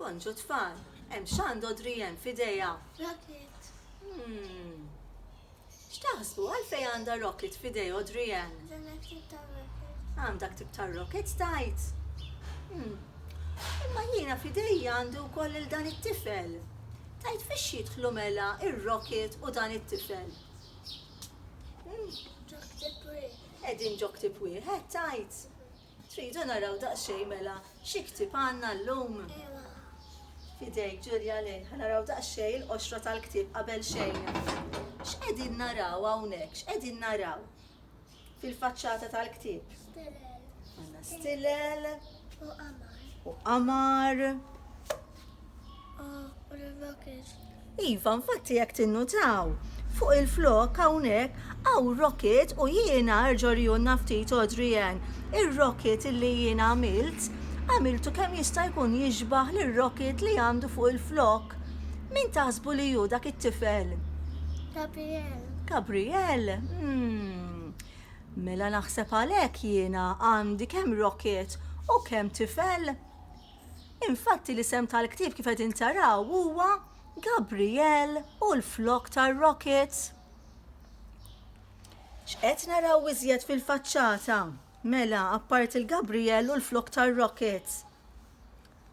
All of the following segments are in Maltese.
Bonġu tfal, hemm xand Audrey hemm f'idejha? Rocket. Hmm. X'taħsbu għalfejn għandha rocket f'idej Audrey hemm? Għam dak tip ta' rocket tajt. Hmm. Imma jiena f'idejja għandu wkoll il dan it-tifel. Tajt fiex jidħlu mela ir-rocket u dan it-tifel. Hmm. Ġok tip wieħed. Qegħdin ġok tip wieħed tajt. Tridu naraw daqsxejn mela xi ktieb għandna llum? F'idejk, Julia Lane. Ħa naraw daqsxejn il-qoxra tal-ktieb qabel xejn. X'qegħdin naraw hawnhekk? X'qegħdin naraw fil-faċċata tal-ktieb? Stilel. Għandna stilel. U qamar. U qamar. Iva, infatti jekk tinnutaw, fuq il-flok hawnhekk hawn rocket u jiena erġgħu rjunna ftit Adrian. Ir-rocket li jiena għamilt, għamiltu kemm jista' jkun jixbaħ lir-rocket li għandu fuq il-flok. Min taħsbu li hu dak it-tifel? Gabriel. Gabriel? Hmm. Mela naħseb għalhekk jiena għandi kemm rocket u kemm tifel. Infatti l-isem tal-ktieb kif qegħdin taraw huwa Gabriel u l-flokk tar-rockets. X'qed naraw iżjed fil-faċċata? Mela, apparti l-Gabriel u l-flokk tar-rockets.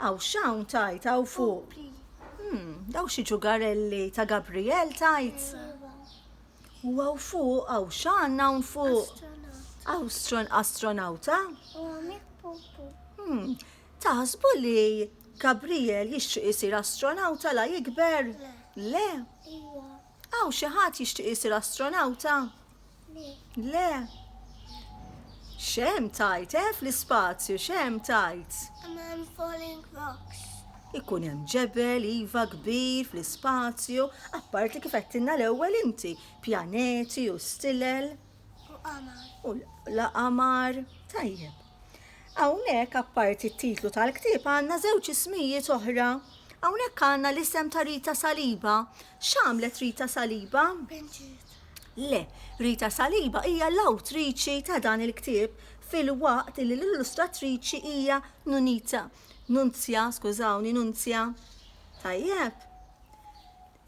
Aw x'hawn tajt hawn fuq. Hmm, daw xi ġugarelli ta' Gabriel tajt? U għaw fuq, għaw xan hawn fuq. Astron astronauta. Hmm, taħsbu li Gabriel jixtieq isir astronauta la jikber? Le. Għaw xi ħadd jixtieq isir astronauta? Le. Xem tajt, eh, fl-ispazju, xem tajt. I'm falling rocks. Ikun hemm ġebel, iva, kbir, fl-ispazju, apparti kif għedtilna l-ewwel inti, pjaneti u stilel. U qamar. U l-qamar, tajjeb. Hawnhekk apparti t-titlu tal-ktieb għandna żewġ ismijiet oħra. Hawnhekk għandna l-isem ta' Rita Saliba. X'għamlet Rita Saliba? Benġiet. Le, Rita Saliba hija l-awtriċi ta' dan il-ktieb fil-waqt li l-illustratriċi hija Nunita. Nunzja, skużawni, Nunzja. Tajjeb.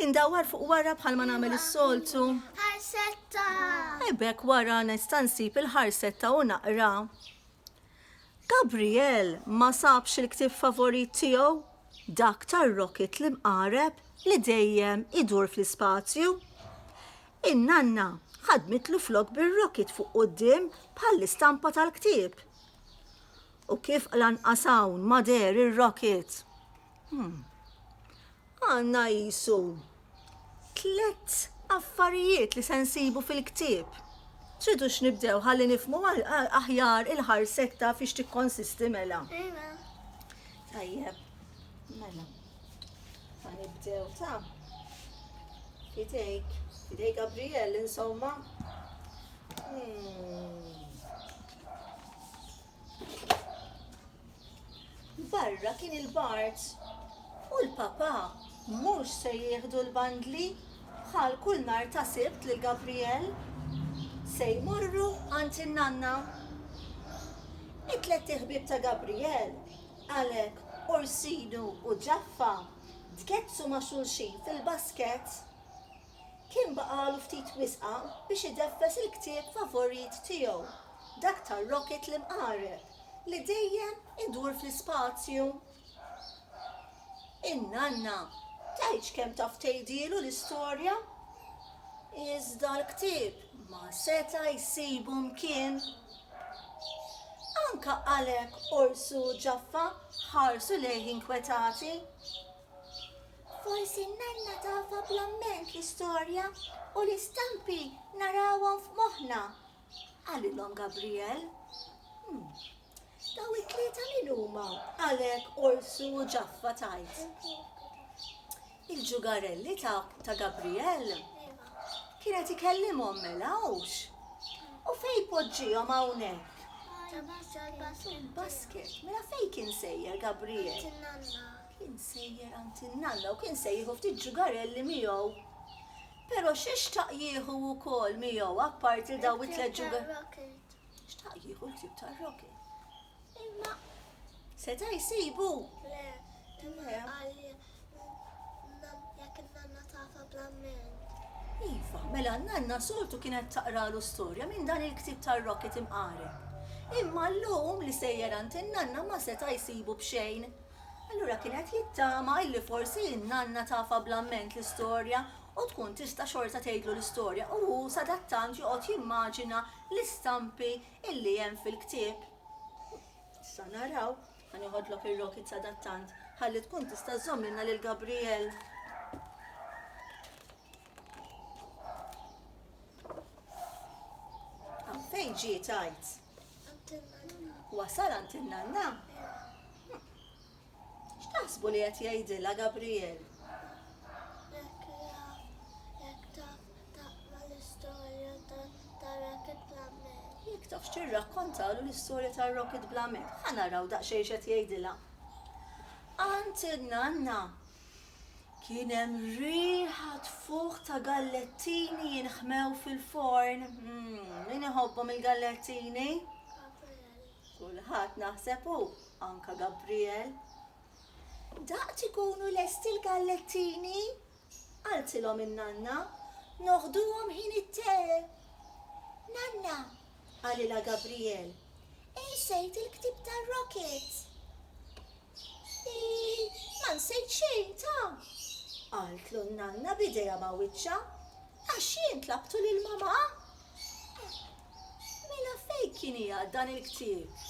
Indawwar fuq wara bħalma nagħmel is-soltu. Ħarsetta! Ebek wara nista' nsib il-ħarsetta u naqra. Gabriel ma sabx il-ktieb favorit tiegħu, dak tar-rocket li mqareb li dejjem idur fl-ispazju. In-nanna ħadmitlu flok bir-rocket fuq quddiem bħall-istampa tal-ktieb. U kif lanqas hawn ma deher ir-rocket? Hmm. Għandna qisu tliet affarijiet li se nsibu fil-ktieb. Tridu x'nibdew ħalli nifmu aħjar il-ħarsetta fiex tikkonsisti mela. Iva. Tajjeb, mela. Ma nibdew ta' fidejk, fidejk Gabriel, insomma. Hmm. Barra kien il-Bard. U l-Papà mhux se jieħdu l-bandli bħal kull nhar ta' Sibt lil Gabriel? Se jmorru għand in-nanna. It-tlett iħbieb ta' Gabriel, Alec, Orsinu u Ġaffa tgeddsu ma' xulxin fil-basket. Kien baqagħlu ftit wisqa biex ideffes il-ktieb favorit tiegħu, dak tar-rocket l-imqareb li dejjem idur fl-ispazju. In-nanna tgħidx kemm taf tgħidilu l-istorja, iżda l-ktieb ma seta' jsibu mkien. Anke għalhekk Ors u Ġaffa ħarsu lejh inkwetati. Forsi n-nanna tafha bl-amment l-istorja u l-istampi narawhom f'moħħna, qalilhom Gabriel. Hmm. Daw it-tlieta min huma? Għalek, Orsu u Ġaffa tajt. Il-ġugarelli ta' ta' Gabriel kienet ikellimhom mela hux. U fej poġġihom hawnhekk? Il-basket, mela fej kien sejjer Gabriel? Kien sejjer għand in-nalla u kien se jieħu ftit ġugarelli miegħu. Però x'xtaq jieħu wkoll miegħu apparti dawn it-tliet ġugarelli? Xtaq jieħu l-ktieb tar-Rocky. Imma seta' jsibu? Le, imma għalli jekk in-nanna tafa bl-amment. Iva, mela n-nanna soltu kienet taqralu storja minn dan il-ktieb tar-Rocky timqareb. Imma llum li sejjer għand in-nanna ma seta' jsibu b'xejn. Allura kien qed jittama illi forsi n-nanna tafha bl-amment l-istorja u tkun tista' xorta tgħidlu l-istorja u hu sadattant joqgħod jimmaġina l-istampi illi hemm fil-ktieb. Issa naraw. Ħa nieħodlok ir-rocket sadattant ħalli tkun tista' żżommilna lil Gabriel. Fejn ġi tajt? Wasal għand in-nanna? X'taħsbu li qed jgħidilha Gabriel? Jekk tafx tirrakkontalu l-istorja tar-Rocket Blamet, ħa naraw daqsxejn x'qed jgħidilha. Għand in-nanna Kien hemm riħa tfuħ ta' gallettini jinħmew fil-forn. Hmm, min iħobbhom il-gallettini? Kulħadd naħseb hu, anka Gabriel. Daqt ikunu lest il-gallettini? Qaltilhom in-nanna, noħduhom ħin it-te. Nanna, qalilha Gabriel, insejt il-ktib tar-rocket. Hi, ma nsejt xejn ta'! qaltlu n-nanna b'idejha ma' wiċċha. Għax jien tlabtu lil mamà! Mela fejn kien qiegħed dan il-ktieb?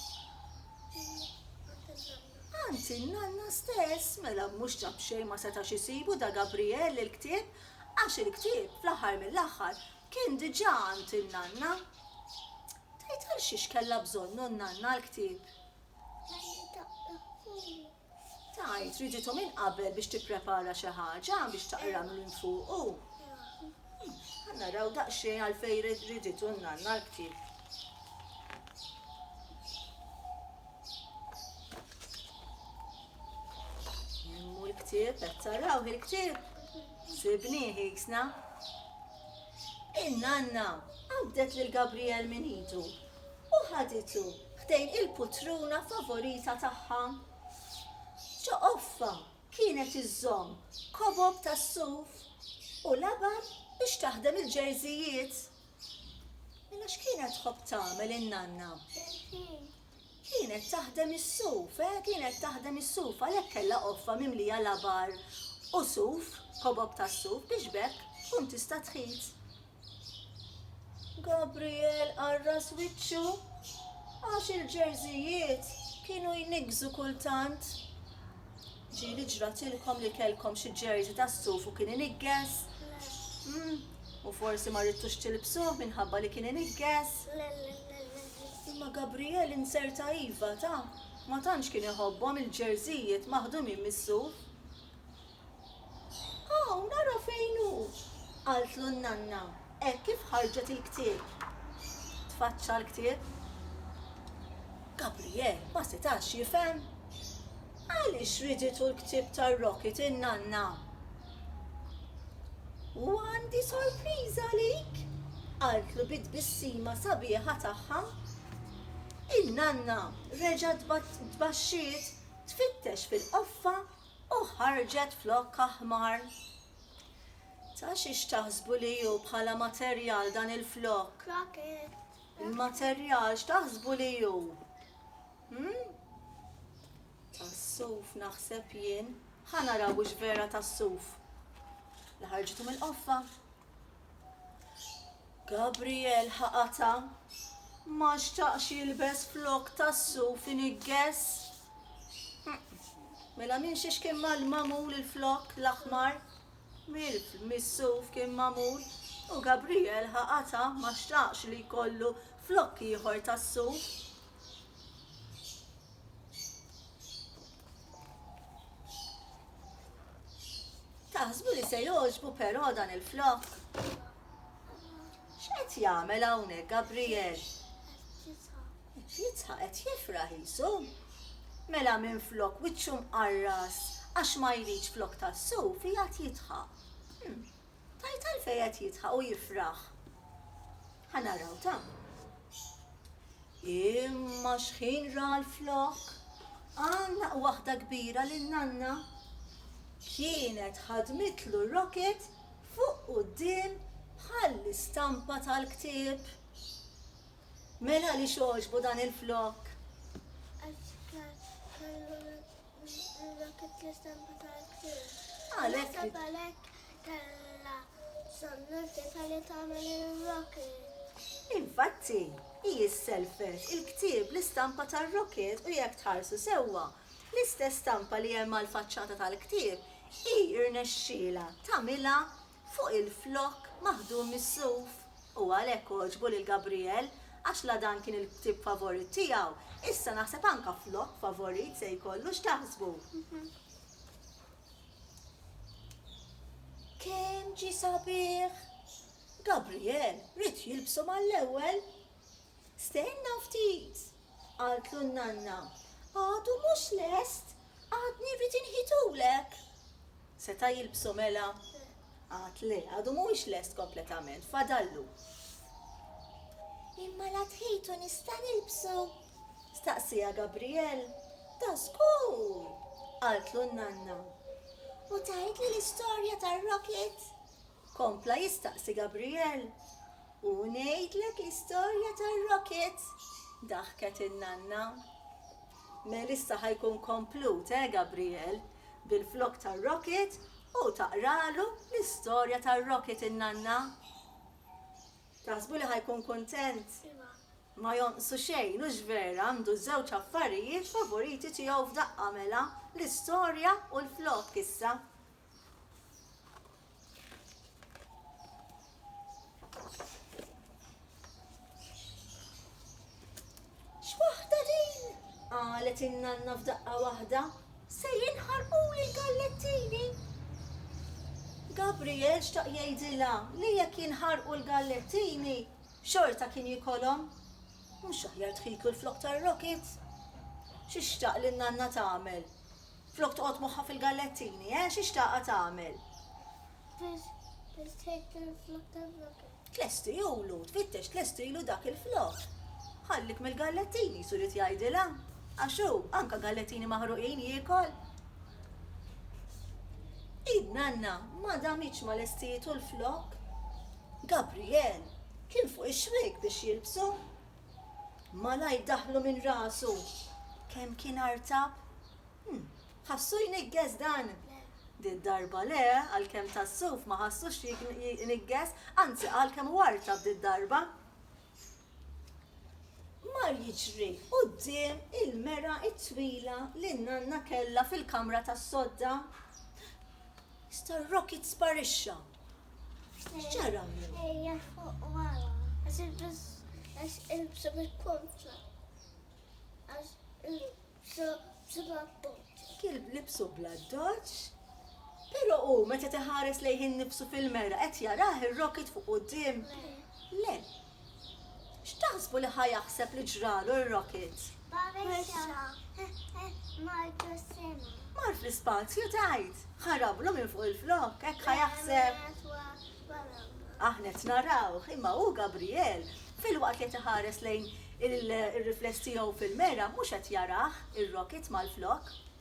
Għand in-nanna stess! Mela mhux ta' b'xejn ma setax isibu Da Gabriele il-ktieb, għax il-ktieb, fl-aħħar mill-aħħar, kien diġà għand in-nanna. Tgħid għalxiex kellha bżonnu n-nanna l-ktieb? Tgħid, riġitu minn qabel biex tipprepara xi ħaġa biex taqra minn fuq u. Ħa naraw daqsxejn għalfejn riġitu n-nanna l-ktieb. Jemmu l-ktieb, qed taraw il-ktieb. Sibni ħiksna. In-nanna qabdet lil Gabriel minn idu u ħaditu ħdejn il-putruna favorita tagħha. Ġeqoffa kienet iżżomm kobob tas-suf u labar biex taħdem il-ġerżijiet. Mela x'kienet tħobb tagħmel in-nanna? Kienet taħdem is-suf, eh, kienet taħdem is-suf għalhekk kellha qoffa mimlija labar u suf, kobob tas-suf biex b'hekk tkun tista' tħit Gabriel qarras wiċċu għax il-ġerżijiet kienu jniggżu kultant. Ġieli ġratilkom li kellkom xi ġerżi tas-suf u kien inigges? Hmm, u forsi ma rridtux tilbsuh minħabba li kien inigges? Imma Gabriel inzerta iva ta' ma tantx kien iħobbhom il-ġerżijiet maħdumin mis-suf. Hawn, ara fejn hu! qaltlu n-nanna hekk kif ħarġet il-ktieb. Tfaċċa l-ktieb. Gabriel ma setax jifhem. Għaliex riditu l-ktieb tar-Rocket in-nanna? U għandi sorpriża għalik, qaltlu bi tbissima sabiħa tagħha. In-nanna reġgħet tbaxxiet tfittex fil-qoffa u ħarġet flokkha ħmar. Ta' xiex taħsbu li hu bħala materjal dan il-flokk? Il-materjal x'taħsbu li hu? Hmm? Tas-suf naħseb jien. Ħa naraw hux vera tas-suf. Li ħarġitu mill-qoffa. Gabriel ħaqatha. Ma xtaqx jilbes flok tas-suf iniggess. Mela minn xiex kien mal-mamul il-flok l-aħmar? Mill-suf kien mamul u Gabriel ħaqatha ma xtaqx li jkollu flok ieħor tas-suf. Taħsbu li se jogħġbu però dan il-flokk? X'qed jagħmel hawnhekk Gabriel? Qed jitħaq qed jifraħ jisu. Mela minn flok wiċċu mqarras għax ma jridx flok tas-suf jgħat jitħaq. Hmm. Tgħid għalfejn qed jidħaq u jifraħ? Ħa naraw ta. Imma xħin ra l-flokk? Għannaq waħda kbira lil nanna. Kienet ħadmitlu rocket fuq quddiem bħall-istampa tal-ktieb. Mela għaliex għoġbu dan il-flokk? Għax kien kellu Għalhekk għalhekk kellha sonnurtità li tagħmel ir-rocket. Infatti, hi sselfet il-ktieb l-istampa tar-rocket u jekk tħarsu sewwa, l-istess stampa li hemm għall-faċċata tal-ktieb hi rnexxielha tagħmilha fuq il-flokk maħdum mis-suf. U għalhekk għoġbu lil Gabriel, għax la dan kien il-ktieb favorit tiegħu, issa naħseb anke flokk favorit se jkollu, x'taħsbu? Kemm ġie sabiħ! Gabriel ried jilbsu mal-ewwel. Stenna ftit! Qaltlu n-nanna, Għadu mhux lest, għadni rrid inħitulek. Seta' jilbsu mela? Qatt le, għadu mhuwiex lest kompletament, fadallu. Imma la tħit u nista' nilbsu? staqsieha Gabriel. Ta' żgur! qaltlu n-nanna. U tgħidli l-istorja tar-rocket? Kompla jistaqsi Gabriel. U ngħidlek l-istorja tar-rocket? daħket in-nanna. Mel issa ħa jkun komplut, eh Gabriel? Bilflokk tar-rocket hu taqralu l-istorja tar-rocket in-nanna. Taħsbu li ħa jkun kuntent? Ma jonqsu xejn, hux vera? Għandu ż-żewġ affarijiet favoriti tiegħu f'daqqa mela, l-istorja u l-flokk issa. X'waħda din? Qalet in-nanna f'daqqa waħda. Se jinħarquli l-gallettini. Gabriel xtaq jgħidilha li jekk jinħarqu l-gallettini xorta kien jikolhom. Mhux aħjar tħiklu l-flok tar-rockets? Xi xtaq li n-nanna tagħmel? Flok toqgħod moħħha fil-gallettini, eh, xi xtaqha tagħmel? Biex biex tgħid il-flok tal-flok. Tlestilu, tfittex tlestilu dak il-flok. Ħallik mill-gallettini, surit jgħidilha. Għax hu, anka gallettini maħruqin jiekol. Id nanna ma damitx ma lestietu l-flok. Gabriel kien fuq ix-xwiek biex jilbsu, Malajr daħlu minn rasu. Kemm kien artab? Hm, ħassu jniggez dan? Did-darba le, għalkemm tas-suf ma ħassux jniggez, anzi qal kemm hu artab did-darba. Mar jiġri quddiem il-mera t-twila li n-nanna kellha fil-kamra tas-sodda. Issa r-rocket sparixxa. X'ġara? Ejja fuq wara. Għax il-bis għax il-bsa bil-kontra. Għax il-bsa bil-kontra. Kilb libsu bla doċ. Pero u meta teħares lejħin nifsu fil-mera qed jarah ir-rocket fuq qudiem? Le. X'taħsbu li ħa jaħseb li ġralu r-rocket? Babexa, martu s-sema. Mar fl-ispazju tgħid, ħarablu minn fuq il-flokk, hekk ħa jaħseb. Aħna qed narawh, imma hu Gabriel, filwaqt li qed iħares lejn ir-rifless tiegħu fil-mera, mhux qed jarah, ir-rocket mal-flokk.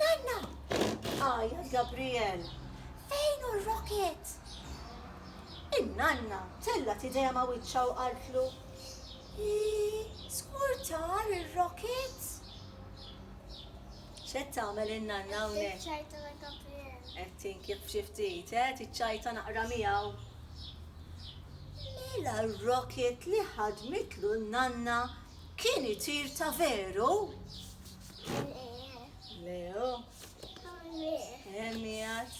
Nanna! Għajjat Gabriel. Fejn hu r-rocket? In-nanna tellgħet idejha ma' wiċċha u qaltlu, Żgur tar ir-rocket? X'qed tagħmel in-nanna hawnhekk? Tiċċajta ma' Gabriel. Qed tinkif xi ftit, eh? Tiċċajta naqra miegħu. Mela r-rocket li ħadmitlu n-nanna kien itir ta' veru? Leo. Emmijat.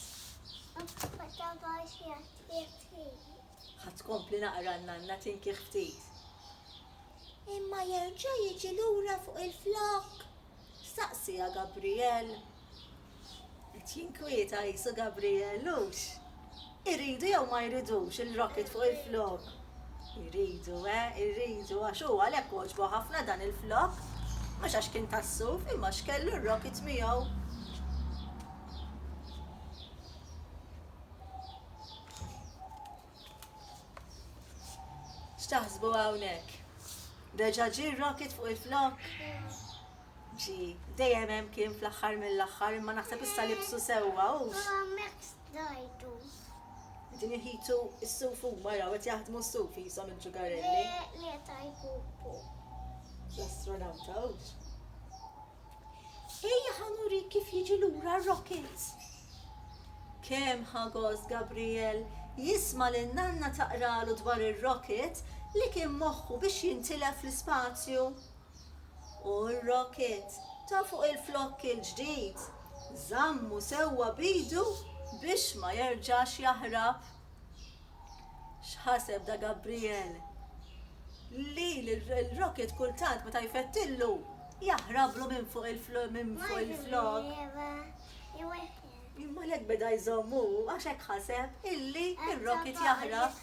Ħat kompli naqra n-nanna tinki ftit. Imma jerġa' jiġi lura fuq il-flok? Staqsija Gabriel. Qed jinkwieta qisu Gabriel hux? Iridu jew ma jridux il-rocket fuq il-flokk? Iridu, eh, iridu għax hu għalhekk għoġbu ħafna dan il-flokk. Mhux għax kien tas-suf imma għax kellu r-rocket miegħu. X'taħsbu hawnhekk? Reġa' ġie r-rocket fuq il-flokk? Ġi, dejjem hemm kien fl-aħħar mill-aħħar, imma naħseb issa libsu sewwa, hux? Imma m'hekk stajtu. Qegħdin iħitu s-suf huma, raw, qed jaħdmu s-suf qishom il-ġugarelli. Le, le ta' jpupu. L-astronawta, hux? Ejja ħa nurik kif jiġi lura r-rocket. Kemm ħa gost Gabriel jisma' lil nanna taqralu dwar ir-rocket li kien moħħu biex jintilef fl-ispazju. u r-rocket ta' fuq il-flokk il-ġdid żammu sewwa b'idu biex ma jerġax jaħrab. X'ħaseb Da Gabriel? Li l-rocket kultant meta jfettillu jaħrablu minn fuq il-flokk. Imma għalhekk beda jżomm hu għax hekk ħaseb illi r-rocket jaħrab.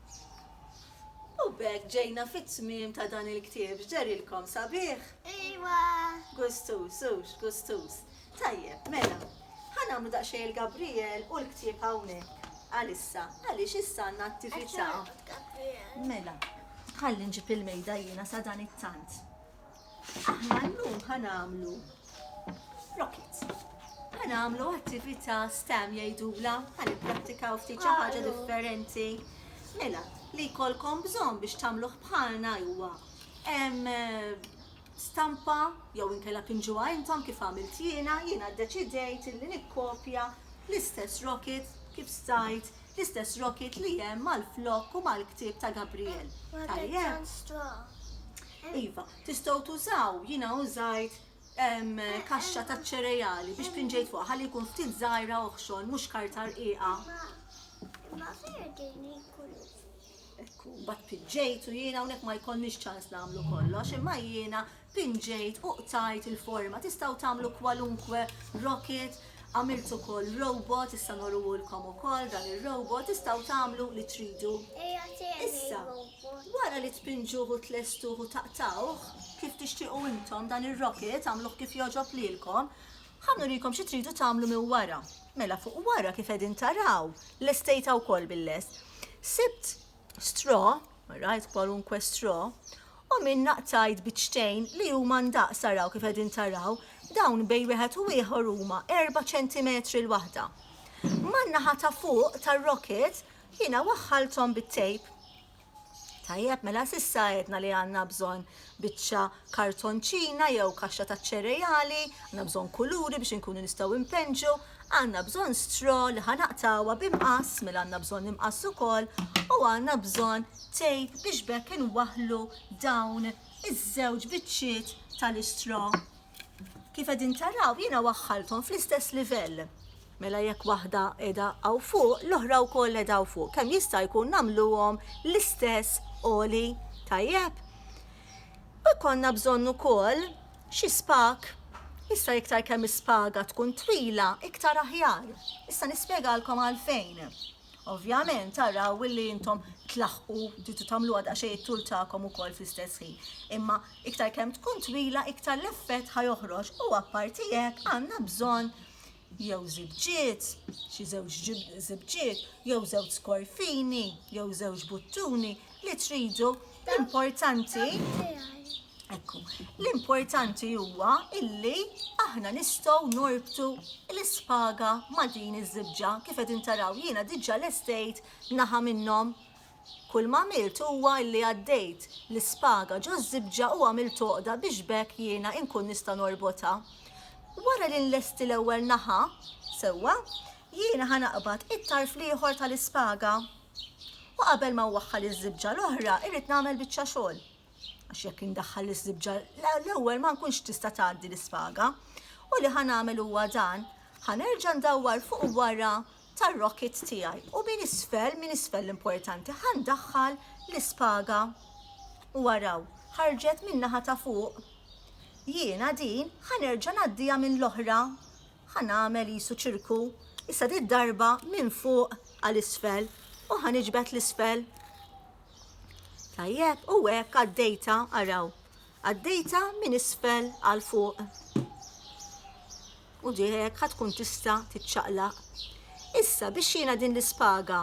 U b'hekk ġejna fit-tmiem ta' dan il-ktieb. X'derilkom, sabiħ? Iwa! Gustuż, hux? Gustuż. Tajjeb, mela, ħa nagħmlu daqsxejn il-Gabrijel u l-ktieb hawnhekk għalissa għaliex issa għandna attività. Mela, ħalli nġib il-mejda jiena sadanittant. Aħna llum ħa nagħmlu rockets. Ħa nagħmlu attività STEM jgħidula, ħa nipprattikaw ftit xi ħaġa differenti. Mela, li jkollkom bżonn biex tagħmluh bħalna huwa stampa jew inkella pinġuha intom kif għamilt jiena, jiena ddeċidejt li nikkopja l-istess rocket kif stajt l-istess rocket li hemm mal-flok u mal-ktieb ta' Gabriel. Tajjeb. Iva, tistgħu tużaw, jiena użajt ehm, kaxxa taċ-ċerejali biex pinġejt fuqha ħalli jkun ftit żgħira oħxon mhux karta rqiqa. Ma ferdini kullu. Ekku, bat pinġejt u jiena hawnhekk ma jkollniex ċans nagħmlu kollox, imma jiena pinġejt u qtajt il-forma. Tistgħu tagħmlu kwalunkwe rocket, għamilt ukoll robot, issa norruhulkom ukoll dan ir-robot, tistgħu tagħmlu li tridu. Ejja, Issa. tejja Wara li tpinġuh u tlestuh u taqtgħuh, kif tixtiequ intom, dan ir-rocket agħmluh kif jogħġob lilkom, ħa nurikom xi tridu tagħmlu minn wara. Mela fuq wara kif qegħdin taraw, lestejtha wkoll bil-lest. Sibt straw, rajt kwalunkwe straw, u minnha qtajt biċċtejn li huma ndaqs araw kif qegħdin taraw, dawn bejn wieħed u ieħor huma erba' ċentimetri l-waħda. Man-naħa ta' fuq tar-rocket Jiena waħħalthom bit-tejp. Tajjeb, mela s'issa għedna li għandna bżonn biċċa kartonċina jew kaxxa taċ-ċereali, għandna bżonn kuluri biex inkunu nistgħu npenġu, għandna bżonn straw li ħa naqtgħuha bi mqass, mela għandna bżonn imqass ukoll, u għandna bżonn tejp biex b'hekk inwaħħlu dawn iż-żewġ biċċiet tal-istraw. Kif qegħdin taraw jiena waħħalthom fl-istess livell. Mela jekk waħda qiegħda hawn fuq, l-oħra wkoll qiegħda hawn fuq. Kemm jista' jkun nagħmluhom l-istess għoli tajjeb. U jkollna bżonn ukoll xi spag. Issa iktar kemm is-spaga tkun twila, iktar aħjar. Issa nispjegalkom għalfejn. Ovvjament araw illi intom tlaħqu tridu tagħmluha daqsxejn it-tul tagħkom ukoll fl-istess ħin. Imma iktar kemm tkun twila iktar l-effett ħa joħroġ u apparti hekk għandna bżonn jew żibġiet, xi żewġ żibġiet, jew żewġ skorfini, jew żewġ buttuni li tridu l-importanti Ekku, l-importanti huwa illi aħna nistgħu norbtu l-ispaga ma' din iż-żibġa kif qed intaraw jiena diġà lestejt naħa minnhom. Kull ma għamilt huwa illi għaddejt l-ispaga ġo żibġa u għamilt toqda biex bekk jiena inkun nista' norbotha. Wara li nlesti l-ewwel naħa, sewwa, jiena ħa naqbad it-tarf l-ieħor tal-ispaga. U qabel ma waħħal iż-żibġa l-oħra irrid nagħmel biċċa xogħol. għax jekk indaħħal l-iżibġa l-ewwel ma nkunx tista' tgħaddi l-isfaga. U li ħa nagħmel huwa dan, ħa nerġa' ndawwar fuq wara tar-rocket tiegħi u minn isfel, minn isfel l-importanti, ħa ndaħħal l-ispaga. U waraw, ħarġet minn naħa ta' fuq. Jiena din ħa nerġa' ngħaddija minn l-oħra. Ħa nagħmel isu ċirku. Issa di darba minn fuq għal isfel u ħa niġbed l-isfel. Tajjeb, u hekk għaddejta, araw, għaddejta minn isfel għal fuq. U ġiħek ħatkun tista titċaqlaq. Issa biex jiena din l-ispaga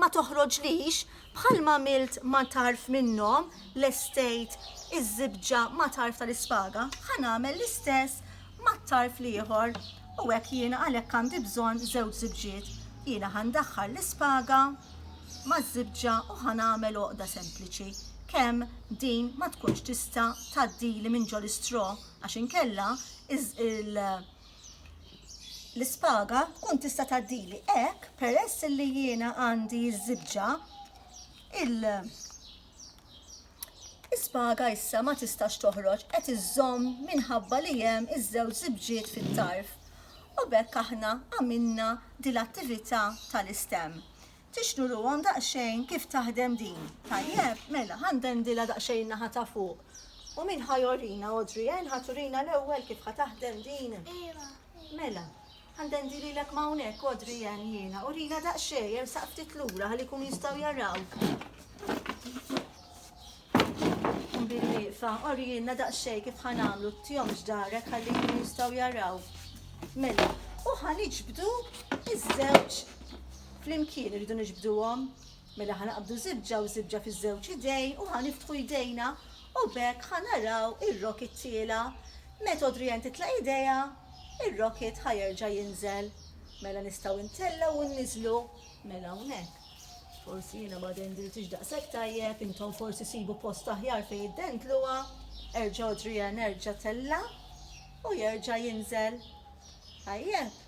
ma toħroġlix bħalma milt ma tarf minnhom l-estejt iż-żibġa ma tarf tal-ispaga, ħa nagħmel l-istess mat-tarf l-ieħor u hekk jiena għalhekk għandi bżonn żewġ żibġiet. Jiena ħandaħħal l-ispaga maż-żibġa u ħa nagħmel għoqda sempliċi kemm din ma tkunx tista' tgħaddili minn ġo l-istraw għax inkella l-ispaga tkun tista' tgħaddili. Hekk peress li jiena għandi ż-żibġa il Is-sbaga issa ma tistax toħroġ qed iżżomm minħabba li hemm iż-żewġ żibġiet fit-tarf u b'hekk aħna għamilna din l-attività tal-istem. Tixtruhom daqsxejn kif taħdem din, tajjeb? Mela ħa ndendilha daqsxejn in-naħa ta' fuq. U min ħa jorina, Audrey, en ħa turina l-ewwel kif ħa taħdem din? Iva. Mela. Għandendi lilek m'hawnhekk, Adrian, jiena. Urina daqsxejn, ersaq ftit lura ħalli jkunu jistgħu jarawk. Nbin wieqfa, orjilna daqsxejn kif ħa nagħmlu, tjomx darek ħalli jkunu jistgħu jaraw. Mela, u ħa niġbdu iż-żewġ flimkien irridu niġbduhom. Mela ħa naqbdu żibġa u żibġa fiż-żewġ idejn u ħa niftħu jdejna u b'hekk ħa naraw ir-rocket tiela'. Meta Adrienne titlaq idejha, ir-rocket ħa jerġa' jinżel. Mela nistgħu ntellgħu u nniżlu. Mela hawnhekk. Forsi jiena ma dendiltiex daqshekk tajjeb, intom forsi sibu post aħjar fejn iddendluha. Erġa' Adrienne, erġa' tella' u jerġa' jinżel. Tajjeb.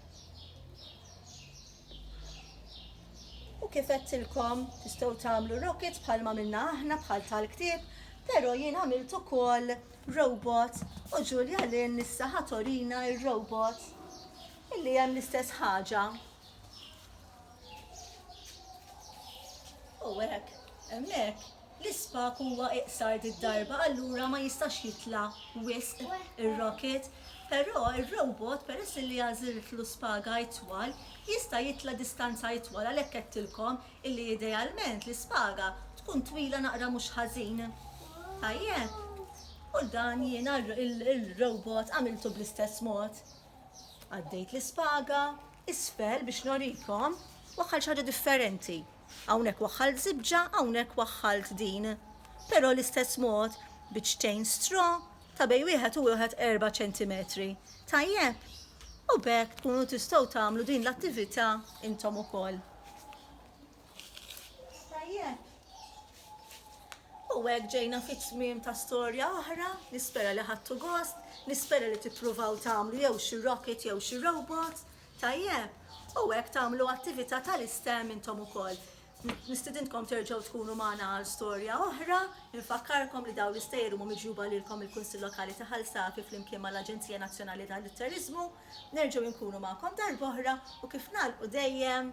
U kif għedtilkom tistgħu tagħmlu rockets bħal ma minna aħna bħal tal-ktieb, pero jien għamilt ukoll robot u Ġulja Lin issa ħatorina ir-robot illi hemm l-istess ħaġa. U hekk, hemmhekk L-ispak huwa iqsar did-darba allura ma jistax jitla' wisq ir-rocket, però r-robot peress li għażiltlu spaga itwal jista' jitla' distanza itwal għalhekk għedtilkom illi idealment l-ispaga tkun twila naqra mhux ħażin. Tajjeb? U dan jiena r-robot għamiltu bl-istess mod. Għaddejt l-ispaga isfel biex norikom u għal xi ħaġa differenti. Hawnhekk waħħalt żibġa, hawnhekk waħħalt din. Però l-istess mod, biċċtejn straw ta' bejn wieħed u wieħed erba' ċentimetri. Tajjeb? U b'hekk tkunu tistgħu tagħmlu din l-attività intom ukoll. Tajjeb? U hekk ġejna fit-tmiem ta' storja oħra, nispera li ħadtu gost, nispera li tippruvaw tagħmlu jew xi rocket jew xi robot, Tajjeb, u hekk tagħmlu attività tal-iSTEM intom ukoll. Nistidintkom terġgħu tkunu magħna għal storja oħra. Infakkarkom li dawn l-istejjer huma miġjuba lilkom mill-Kunsill Lokali ta' Ħal Safi flimkien mal-Aġenzija Nazzjonali tal-Turiżmu. Nerġgħu inkunu magħkom darb'oħra u kif nagħlqu dejjem,